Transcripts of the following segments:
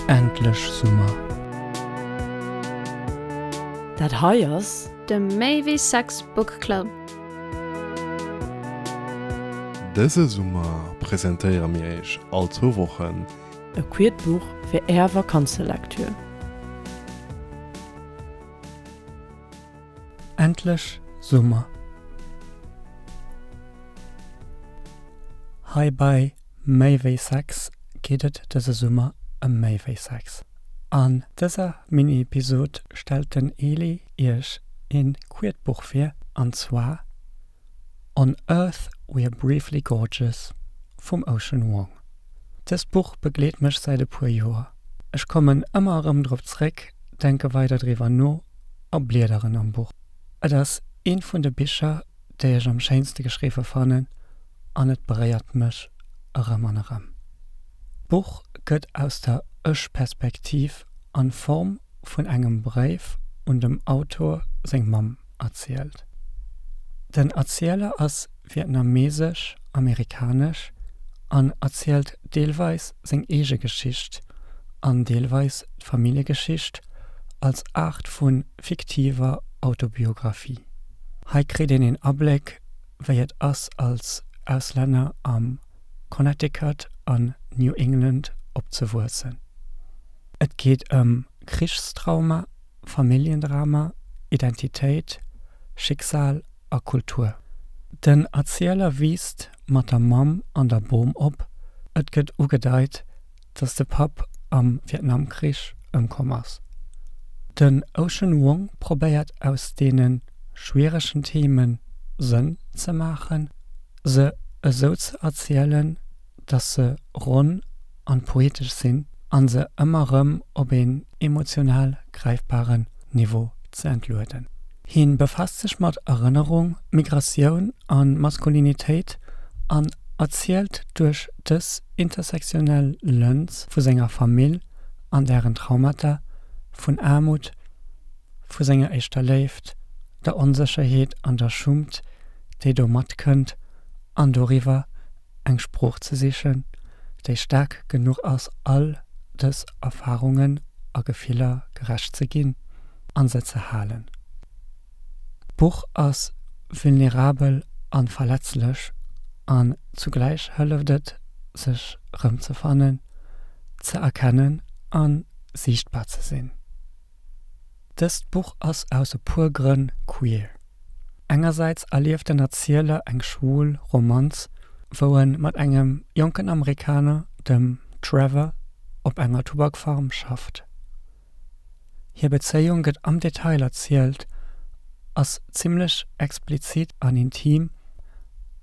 Endlech Summer! Dat hei ass. De Maybe Sex Book Club. Dëse Summer presentéiere mir Iech all zwou Wochen. E quiert Buch fir Är Vakanzelektür. Endlech Summer! Hei bei Méi wéi Sex geet et dëse Summer ëm méi wéi Sex. An dëser Mini-Episod stellt den Eli iech een Kuertbuch vir, an zwar On Earth We're Briefly Gorgeous vum Ocean Vuong. Dëst Buch begleet mech säit e puer Joer. Ech kommen ëmmer erëm drop zréck, denke weider driwwer no a bliederen am Buch. Et ass eent vun de Bicher, déi ech am schéinste geschriwwe fannen an et beréiert mech erëm an erëm. D'Buch gëtt aus der Ech-Perspektiv an Form vun engem Bréif un dem Autor seng Mamm. erzielt. Den Erzieler ass vietnamesesch-amerikanesch an erzielt deelweis seng eege Geschicht an deelweis d'Familljegeschicht als Aart vu fiktiver Autobiographie. Hei kritt een een Abléck, wéi et ass als Auslänner am Connecticut an New England opzewuessen. Et geet ëm Krichstrauma, Familljendrama, Identitéit, Schicksal a Kultur. Den Erzieler wiisst mat der Mamm an der Bom op. Et gëtt ugedeit, datt de Papp am Vietnamkrich ëmkomm ass. Den Ocean Vuong probéiert aus deene schwieregen Theeme Sënn ze maachen, se esou ze erzielen, datt se ronn an poetesch sinn an se ëmmer rëm op een emotional gräifbaren Niveau ze entlueden. Hien befaasst sech mat Erënnerung, Migratioun an Maskulinitéit an erzielt duerch dës intersektionell Lëns vu senger Famill an dären Traumata, vun Aarmut, vu senger éischter Léift, der Onsécherheet an der Schummt déi domat kënnt an doriwwer eng Sprooch ze sichen, déi staark genuch ass all dës Erfarungen a Gefiller gerecht ze ginn a se ze halen. D'Buch ass vulnerabel a verletzlech an zugläich hëlleft et sech rëmzefannen, ze erkennen a siichtbar ze sinn. Dëst Buch ass aus e puer Grënn queer. Engersäits erlieft den Erzieler eng schwul Romanz, wou en mat engem jonken Amerikaner, dem Trevor, op enger Tubakfarm schafft. Hir Bezéiung gëtt am Detail erzielt, ass zimmlech explizit an intim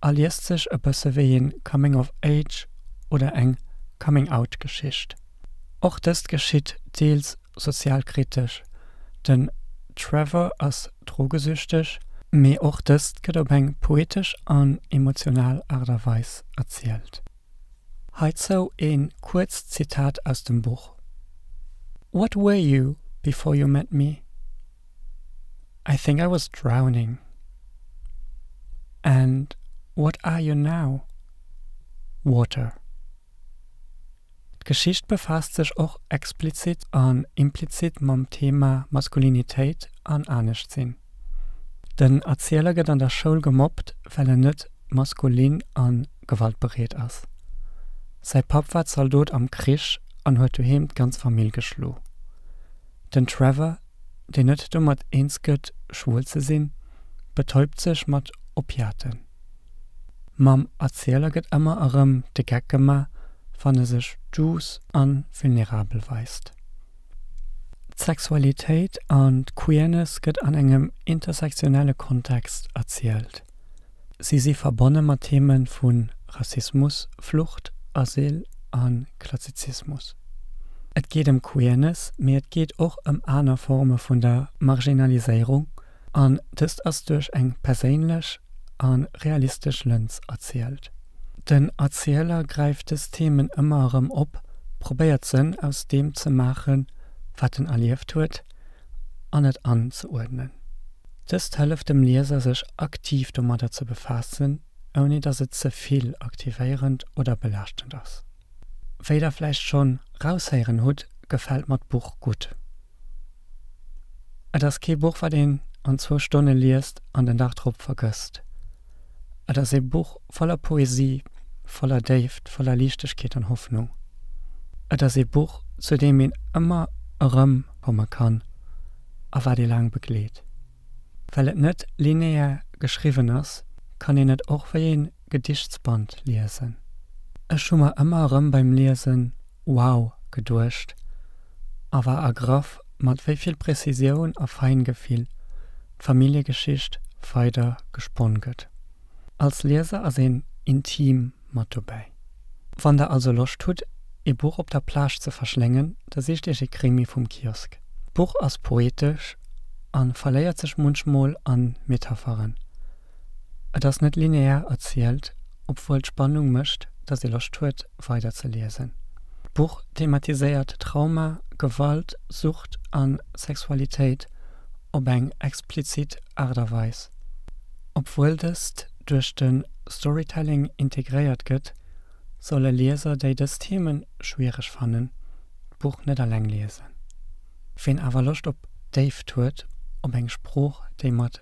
a liest sech e bësse wéi ee Coming of Age oder eng Coming-out-Geschicht. Och dëst geschitt deels sozialkritesch, den Trevor ass drogesüchteg, mee och dëst gëtt op eng poetesch an emotional Aart a Weis erzielt. Heizou e kuerzt Zitat aus dem Buch, What were you before you met me? I think I was drowning. And what are you now? Water. D'Geschicht befaasst sech och explizit an implizit mam Thema Maskulinitéit an Aneschtsinn. Den Erzieler gëtt an der Schoul gemobbt, well en net maskulin a gewaltbereet ass. Säi Papp war Zaldot am Krich an huet doheem d'ganz Famill geschlo. Den Trevor, deen net domat eens gëtt, schwuel ze sinn, betäubt sech mat Opiaten. Mam Erzieler gëtt ëmmer erëm de Geck gema wann e sech duuss a vulnerabel weist. D'Sexualitéit an d'Queerness gëtt an engem intersektionelle Kontext erzielt. Si si verbonne mat Theeme vu Rassismus, Flucht, Asyl a Klassizismus. Et geet ëm Queerness, mee et geet och ëm aner Forme vun der Marginaliséierung An dëst ass duerch eng perséinlech a realistesch Lëns erzielt. Den Erzieler gräift dës Themen ëmmer erëm op, probéiert Sënn aus deem ze maachen, wat en erlieft huet, an et anzeuerdnen. Dëst hëlleft dem Lieser sech aktiv domadder ze befaassen, ouni datt et ze vill aktivéierend oder belaaschtend ass. Wéi der vläicht schonn raushéieren hutt, gefält mer d'Buch gutt. Et ass kee Buch, wat een an zwou Stonne liest an den Dag drop vergësst. Et ass ee Buch voller Poesie, voller Déift, voller Liichtegkeet an Hoffnung. Et ass ee Buch, zu deem een ëmmer erëm komme kann a wat ee laang begleet. Well et net linear geschriwwen ass, kann een et och wéi een Gedichtband liesen. Ech hu mer ëmmer erëm beim Liesen Wow geduecht a war ergraff mat wéi vill Prezisioun a Feingefill d'Familljegeschicht weider gesponn gëtt. Als Lieser ass een intim mat dobäi. Wann der also Loscht hutt ee Buch op der Plage ze verschléngen, da sicht iech ee Krimi vum Kiosk. D'Buch ass poetesch a verléiert sech munchmol an Metapheren. Et ass net linear erzielt, obwuel d'Spannung mécht, datt ee Loscht huet, weider ze liesen. D'Buch thematiséiert Trauma, Gewalt, Sucht a Sexualitéit op eng explizit Aart a Weis. Obwuel dëst duerch de Storytelling integréiert gëtt, solle Lieser, déi dës Theeme schwiereg fannen, d'Buch net eleng liesen. Ween awer Loscht op Déift huet, op eng Sprooch, déi mat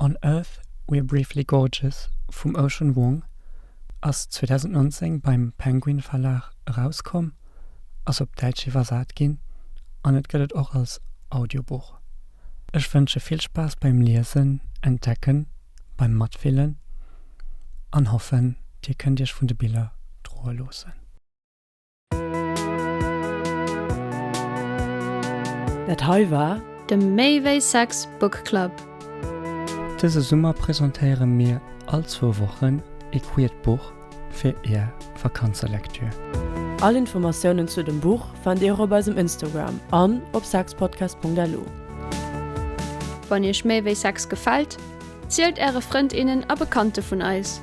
On Earth We're Briefly Gorgeous vum Ocean Vuong ass 2019 beim Penguin Verlag erauskomm, ass op Däitsch iwwersat ginn an et gëtt et och als Audiobuch. Ech wënsche vill Spaass beim Liesen, Entdecken, beim Matfillen an hoffen, dir kënnt iech vun de Biller droe loossen. Dat hei war. De Méi wéi Sex Book Club. Dëse Summer presentéiere mir all zwou Wochen ee queert Buch fir Är Vakanzelektür. All Informatiounen zu dem Buch fannt Dir och op eisem Instagram an op sexpodcast.lu. Wann Iech Méi wéi Sex gefält, zielt Äre Frënd, innen a Bekannte vun eis.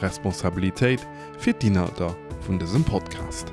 Responsabilitéit fir d'Inhalter vun dësem Podcast.